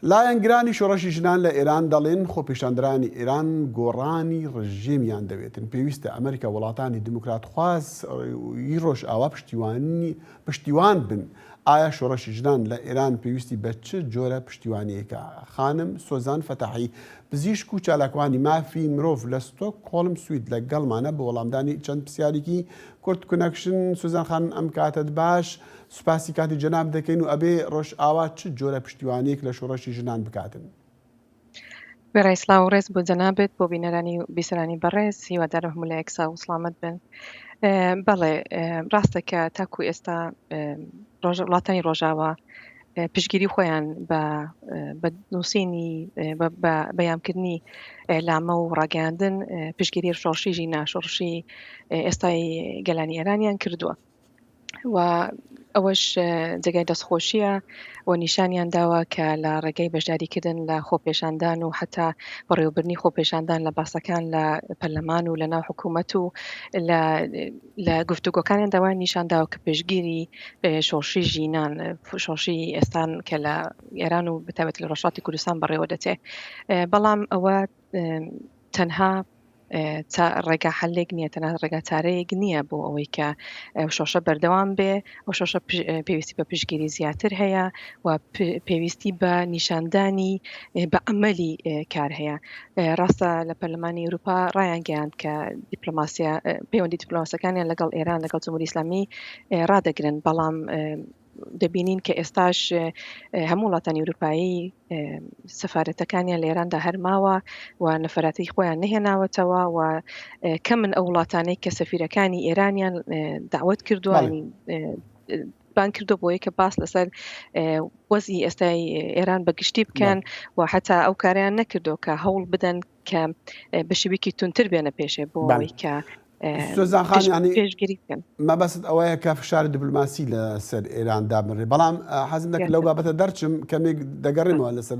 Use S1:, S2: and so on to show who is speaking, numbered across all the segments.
S1: لایەنگرانی شۆڕشی ژنان لە ئێران دەڵێن، خۆپیشاندەرانی ئێران گۆڕانی ڕژێمیان دەوێتن، پێویستە ئەمریکا و وڵاتانی دیموکراتخوازی ڕۆژئاوا پشتیوان بن. ئایا شۆڕشی ژنان لە ئێران پێویستی بە چ جۆرە پشتیوانییەکە؟ خانم سۆزان فەتاحی، پزیشک و چالاکوانی مافی مرۆڤ لە ستۆکهۆڵم سوید لەگەڵمانە بۆ وەڵامدانی چەند پرسیارێکی کورت کونەکشن. سۆزان خانم ئەم کاتەت باش. سوپاسی کاتی جەنابت دەکەین و ئەبێ ڕۆژئاوا چ جۆرە پشتیوانییەک لە شۆڕشی ژنان بکاتن؟
S2: وێڕای سڵاو و ڕێز بۆ جەنابت، بۆ بینەرانی و بیسەرانی بەڕێز، هیوادارم هەموو لایەک ساغ و سڵامەت بن. بەڵێ ڕاستە کە تاکو ئێستا ڕۆژ وڵاتانی ڕۆژاوا پشگیری خۆیان بە بە نووسینی بەیانکردنی لامە و ڕاگەاندن پشگیری شۆڕشی ژینا شۆڕشی ئێستای گەلانی ئێرانیان کردووە و ئەوەش جێگای دەستخۆشییە و نیشانیان داوە کە لە ڕێگەی بەشداریکردن لە خۆپێشاندان و حتا بەڕێوبرنی خۆپێشاندان لە باسەکان لە پەرلەمان و لە ناو حکوومەت و لە گفتوگۆکانیان داوای نیشان داوە کە پێشگیری شۆڕشی ژینان شۆڕشی ئێستان کە لە ئێران و بتابێت لە ڕۆژاتی کوردستان بەڕێوە دەچێت بەڵام ئەوە تەنها چا ڕێگا حەلێک نییە تەنها ڕێگا چارەیەک نییە بۆ ئەوەی کە شۆشە بەردەوام بێ ئەو شۆشە پێویستی بە پشگیری زیاتر هەیە و پێویستی بە نیشاندانی بە ئەمەلی کار هەیە ڕاستە لە پەرلەمانی ئەوروپا ڕایانگەیاند کە دیپلۆماسیە پەیوەندی دیپلۆماسەکانیان لەگەڵ ئێران لەگەڵ جمهوری ئسلامی ڕدەگرن بەڵام دەبینین کە ئێستاش هەموو وڵاتانی ئورووپایی سەفارەتەکانیان لە ئێراندا هەرماوە و نەفراتەی خۆیان نهێناوەتەوە و کە من ئەو وڵاتانەی کە سەفیرەکانی ئێرانیان داوت کردووە بان کردو بۆیە کە باس لەسەر وەزی ئێستای ئێران بە گشتی بکەن و حتا ئەو کاریان نەکردو کە هەوڵ بدەن کە بەشێویکی تونتر بێنە
S1: پێشێ بۆ ئەوەی کە پێشگیریکەن مەبەست ئەوەیە کە فشاری دیبلوماسی لەسەر ئێران دابنرێ بەڵام حەزم دەکرد لەو بابەتە دەرچم کەمێک دەگەڕێمەوە لەسەر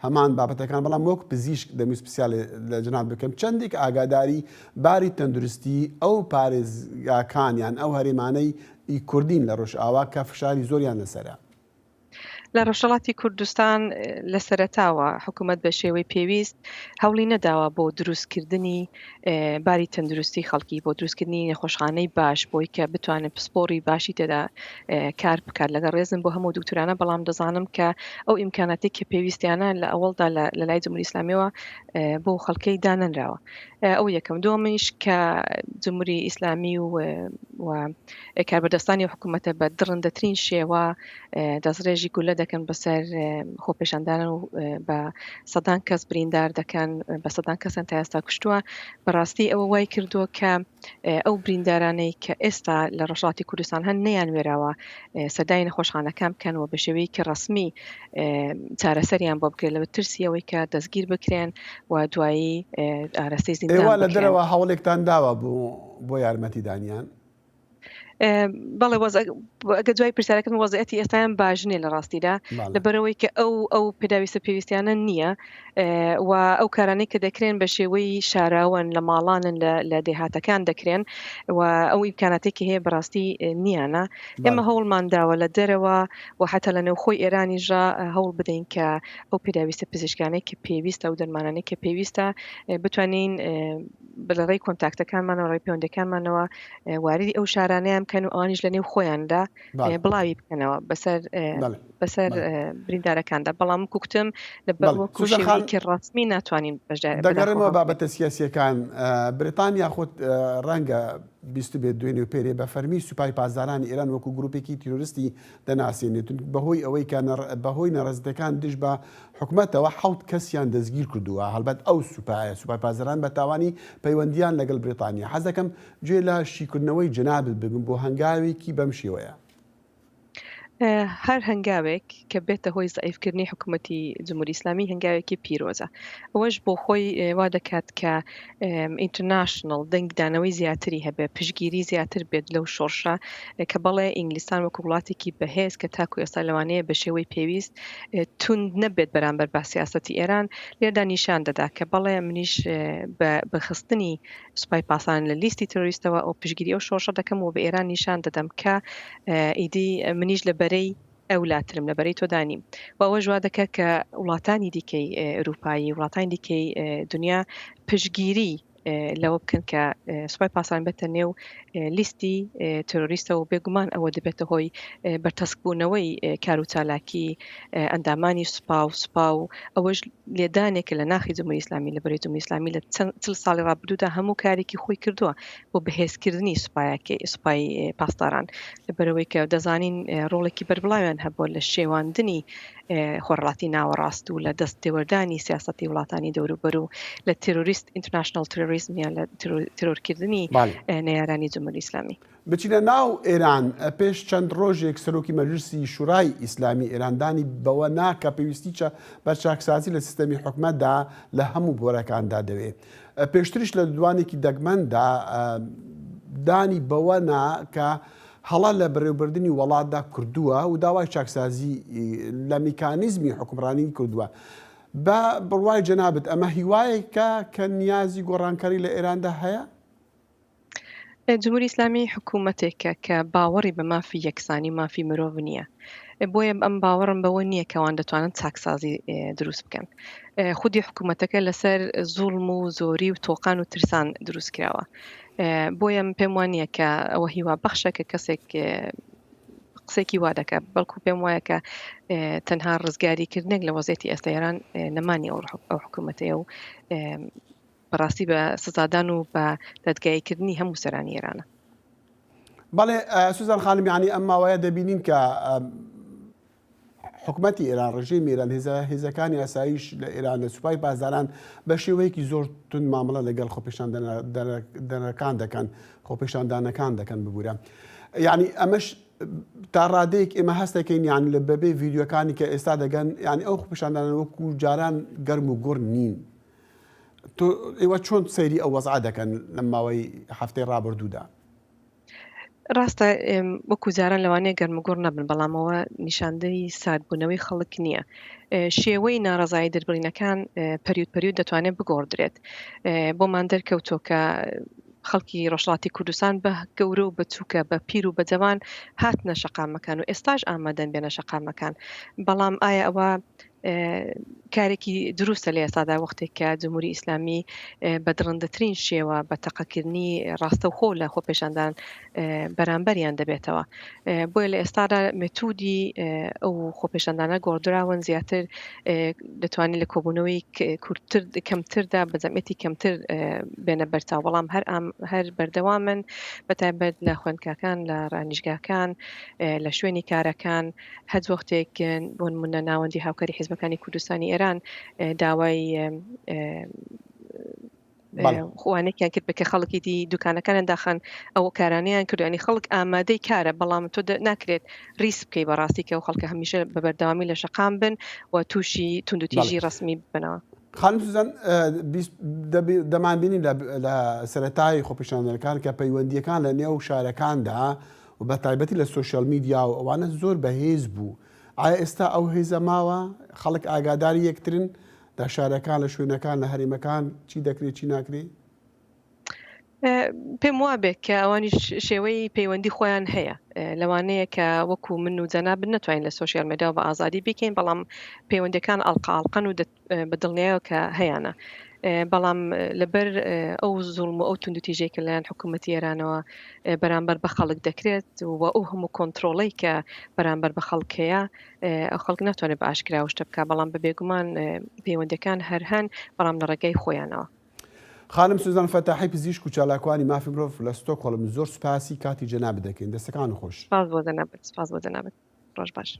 S1: هەمان بابەتەکان بەڵام وەک پزیشک دەمیست پرسیال لە جناب بکەم چەندێک ئاگاداری باری تەندروستی ئەو پارێزگاکانیان ئەو هەرێمانەی کوردین لە ڕۆژئاوا کە فشاری زۆریان لەسرە لە
S2: ڕۆژهەڵاتی کوردستان لە سەرەتاوە حکوومەت بە شێوەی پێویست هەوڵی نەداوە بۆ دروستکردنی باری تەندروستی خەڵکی بۆ دروستکردنی نەخۆشخانەی باش بۆی کە بتوانن پسپۆری باشی تێدا کار بکات لەگە ڕێزم بۆ هەموو دکتورانە بەڵام دەزانم کە ئەو ئیمکاناتی کە پێویستیانە لە ئەوڵدا لە لای جمهوری ئسلامیەوە بۆ خەڵکەی دانەنراوە ئەو یەکەم دومنیش کە جمهوری ئیسلامی و کاربەدەستانی ئەو حکوومەتە بە دڕندەترین شێوە دەستڕێژی گولە دەکەن بەسەر خۆپێشاندانان و بە سەدان کەس بریندار دەکەن بە سەدان کەسیان تا ئێستا کوشتووە بەڕاستی ئەوە وای کردووە کە ئەو بریندارانەی کە ئێستا لە ڕۆژهەڵاتی کوردستان هەن نەیان وێراوە سەدای نەخۆشخانەکان بکەن و بە شێوەیەکی ڕەسمی چارەسەریان بۆ بکرێت لەوە ترسی ئەوەی کە دەستگیر بکرێن و دوایی ئارەستەی زیندان ئێوە لە دەرەوە هەوڵێکتان
S1: داوە بۆ بۆ یارمەتیدانیان
S2: بەڵێ ئەگە دوای پرسیارەکەم وەزعەتی ئێستایان باش نیە لە ڕاستیدا لەبەرەوەی کە ئەو ئەو پێداویستە پێویستیانە نییە و ئەو کارانەی کە دەکرێن بە شێوەی شاراوەن لە ماڵانن لە دێهاتەکان دەکرێن و ئەو ئیمکاناتێکی هەیە بەڕاستی نیانە ئێمە هەوڵمان داوە لە دەرەوە و حتا لە نێوخۆی ئێرانیژە هەوڵ بدەین کە ئەو پێداویستە پزیشکانێک کە پێویستە و دەرمانانێک کە پێویستە بتوانین لە ڕێی کۆنتاکتەکانمانەوە ڕێی پەیوەندەکانمانەوە واریدی ئەو شارانیان بکەن و ئەوانیش لە نێو خۆیاندا بڵاوی بکەنەوە بەسەر بەسەر بریندارەکاندا بەڵام کوکتم لە بەڵکی ڕاستمی ناتوانین دەگەڕێمەوە بابەتە
S1: سیاسیەکان بریتانیا خۆت ڕەنگە بیست بێت دوێنێ و پێرێ بە فەرمی سوپای پاسدارانی ئێران وەکو گرروپێکی تیرۆرستی دەناسێنێت و بەهۆی ئەوەی کە بەهۆی نەڕەزیتەکان دژ بە حکومەتەوە حەوت کەسیان دەستگیر کردووە هەڵبەت ئەو سوپایە سوپای پازران بە تاوانی پەیوەندیان لەگەڵ بریتانیا حەزەکەم گوێ لە شیکردنەوەی جەنابت بگرم بۆ هەنگاوێکی بەم شێوەیە. هەر
S2: هەنگاوێک کە بێتە هۆی زەعیفکردنی حکومەتی جمهوری ئیسلامی هەنگاوێکی پیرۆزە ئەوەش بۆ خۆی وا دەکات کە ئینترناشنڵ دەنگدانەوەی زیاتری هەبێت، پشتگیری زیاتر بێت لەو شۆڕشە، کە بەڵێ ئینگلیستان وەکو وڵاتێکی بەهێز کە تاکو ئێستا لەوانەیە بە شێوەی پێویست توند نەبێت بەرامبەر با سیاسەتی ئێران، لێردا نیشان دەدا کە بەڵێ منیش بە بە خستنی سوپای پاسان لە لیستی ترۆریستەوە ئەو پشتگیری ئەو شۆڕشە دەکەم و بە ئێران نیشان دەدەم کە ئیدی منیش لە بەرەی ئەولاترم لە بەرەی تۆدا نیم و ئەوەش وا دەکات کە وڵاتانی دیکەی ئەرووپایی وڵاتانی دیکەی دنیا پشتگیری لەوە بکەن کە سوپای پاسان بێتە نێو لیستی تروریستە و بێگومان ئەوە دەبێتە هۆی بەرتەسکبوونەوەی کار و چالاکی ئەندامانی سوپا و سوپا و ئەوەش لێدانێکە لە ناخی جمهوری ئیسلامی لە بەرەی جمهوری ئیسلامی لە چەند چل ساڵی ڕابردوودا هەموو کارێکی خۆی کردووە بۆ بەهێزکردنی سوپایەکەی، سوپای پاسداران، لەبەرئەوەی کە دەزانین ڕۆڵێکی بەربڵاویان هەبووە لە شێواندنی خۆرهەڵاتی ناوەڕاست و لە دەست تێوەردانی سیاسەتی وڵاتانی دەوروبەر و لە تێرۆریست، ئینتەرناشناڵ تێرۆریزم، یان لە تێرۆرکردنی نەیارانی جمهوری ئیسلامی. بچینە ناو
S1: ئێران، پێش چەند ڕۆژێک سەرۆکی مەجلیسی شورای ئیسلامی ئێران دانی بەوە نا کە پێویستیی بە چاکسازی لە سیستەمی حکومەتدا لە هەموو بۆرەکاندا دەوێ. پێشتریش لە ددوانێکی دەگمەندا دانی بەوە نا کە هەڵە لە بەرێوبردنی وەڵاتدا کردووە و داوای چاکسازی لە میکانیزمی حکومڕانی کردووە. بە بڕوای جەنابت ئەمە هیوایەکە کە نیازی گۆڕانکاری لە ئێراندا هەیە؟
S2: جمهوری ئیسلامی حکومەتێکە کە باوەڕی بە مافی یەکسانی و مافی مرۆڤ نییە بۆیە ئەم باوەڕم بەوە نییە کەوان دەتوانن چاکسازی دروست بکەن خودی حکوومەتەکە لەسەر زوڵم و زۆری و تۆقان و ترسان دروست کراوە بۆیە پێم وانە کە ئەوە هیوا بەخشە کە کەسێک قسێکی وا دەکات بەڵکو پێم وایە کە تەنها ڕزگاری کردنێک لە وەزێتی ئێستا ئێران نەمانی ئەو حکوومەتەیە و بەڕاستی بە سزادان و بە دادگایی کردنی هەموو سەرانی ئێرانە.
S1: بەڵێ سوزان خانم یعنی ئەم ماوەیە دەبینین کە حکومەتی ئێران ڕژی میران هێزە هێزەکانی ئاسایش لە ئێران لە سوپای بازاران بە شێوەیەکی زۆر تون مامەڵە لەگەڵ خۆپیشان دەنەکان دەکەن خۆپیشاندانەکان دەکەن ببوورە یعنی ئەمەش تا ڕادەیەک ئێمە هەستەکەین یان لە بەبێ ڤیددیوەکانی کە ئێستا دەگەن یعنی ئەو خۆپیشاندانە وەکو جاران گەرم و گوڕ نین تۆ ئێوە چۆن سەیری ئەو وەزعە دەکەن لەم ماوەی هەفتەی ڕابردوودا؟
S2: ڕاستە وەکو جاران لەوانەیە گەرموگوڕ نەبن بەڵامەوە نیشاندەی ساردبوونەوەی خەڵک نییە شێوەی ناڕزایی دەربڕینەکان پەریوت پەریوت دەتوانێت بگۆڕدرێت بۆمان دەرکەوتۆکە خەڵکی ڕۆژڵاتی کوردستان بە گەورە و بەچووکە بە پیر و بەجەوان هاتنە شەقامەکان و ئێستاش ئامادەن بێنە شەقامەکان بەڵام ئایا ئەوە کارێکی دروستە لە ئێستادا وەختێک کە جمهوری ئیسلامی بە دڕندەترین شێوە بە تەقەکردنی ڕاستەوخۆ لە خۆپێشاندان بەرامبەریان دەبێتەوە بۆیە لە ئێستادا متودی ئەو خۆپێشاندانە گۆڕدراون زیاتر دەتوانین لە کۆبوونەوەی کورتتر کەمتردا بە جەمەتی کەمتر بێنە بەرچاو بەڵام هەر ئەم هەر بەردەوامن بەتایبەت لە خوێندکاکان لە ڕانیشگاکان لە شوێنی کارەکان هەچ وەختێک بۆ نموونە ناوەندی هاوکاری حیزبەکانی کوردستانی ئێران داوای خوانێکیان کرد بە کە خەڵکی دی دوکانەکانیان داخان ئەو کارانیان کردوانی خەڵک ئامادەی کارە بەڵام تۆ ناکرێت ریس بکەی بەڕاستی کە و خەڵکە هەمیشە بە بەردەوامی لە شەقام بن و تووشی توندوتیژی ڕسمی بنەوە خانم سوزان
S1: دەمانبینی لە سەتای خۆپیشاندەرەکان کە پەیوەندیەکان لە نێو شارەکاندا و بە تایبەتی لە سۆشیال میدیا و ئەوانە زۆر بە هێز بوو ئایا ئێستا ئەو هێزە ماوە خەڵک ئاگاداری یەکترن لە شارەکان لە شوێنەکان لە هەرێمەکان چی دەکرێ چی ناکرێ؟
S2: پێم وابێت کە ئەوانیش شێوەی پەیوەندی خۆیان هەیە لەوانەیە کە وەکو من و جەناب نتوانین لە سوۆسیال مەداوە بە ئازادی بکەین بەڵام پەیوەندەکان ئەڵقاڵقەن و بە دڵنیایەوە کە هەیانە بەڵام لەبەر ئەو زوڵم و ئەو توندوتیژەی کە لەیان حکوومەتتی ئێرانەوە بەرامبەر بە خەڵک دەکرێت و ئەو هەموو کۆنتترۆڵی کە بەرامبەر بە خەڵکەیە ئەو خەڵک ناتوانێت بە ئاشکراوشتە بکە بەڵام بە بێگومان پەیوەندەکان هەر هەن بەڵام لە ڕێگای خۆیانەوە خانم
S1: سوزان فەتاحی پزیشک و چالاکوانی مافی مرۆڤ لە ستۆکۆڵم زۆر سوپاسی کاتی جەنابت دەکەین دەستەکان خۆش
S2: سپاس بۆ
S1: جەنابت سپاس
S2: بۆ
S1: جەنابت
S2: ڕۆژ
S1: باش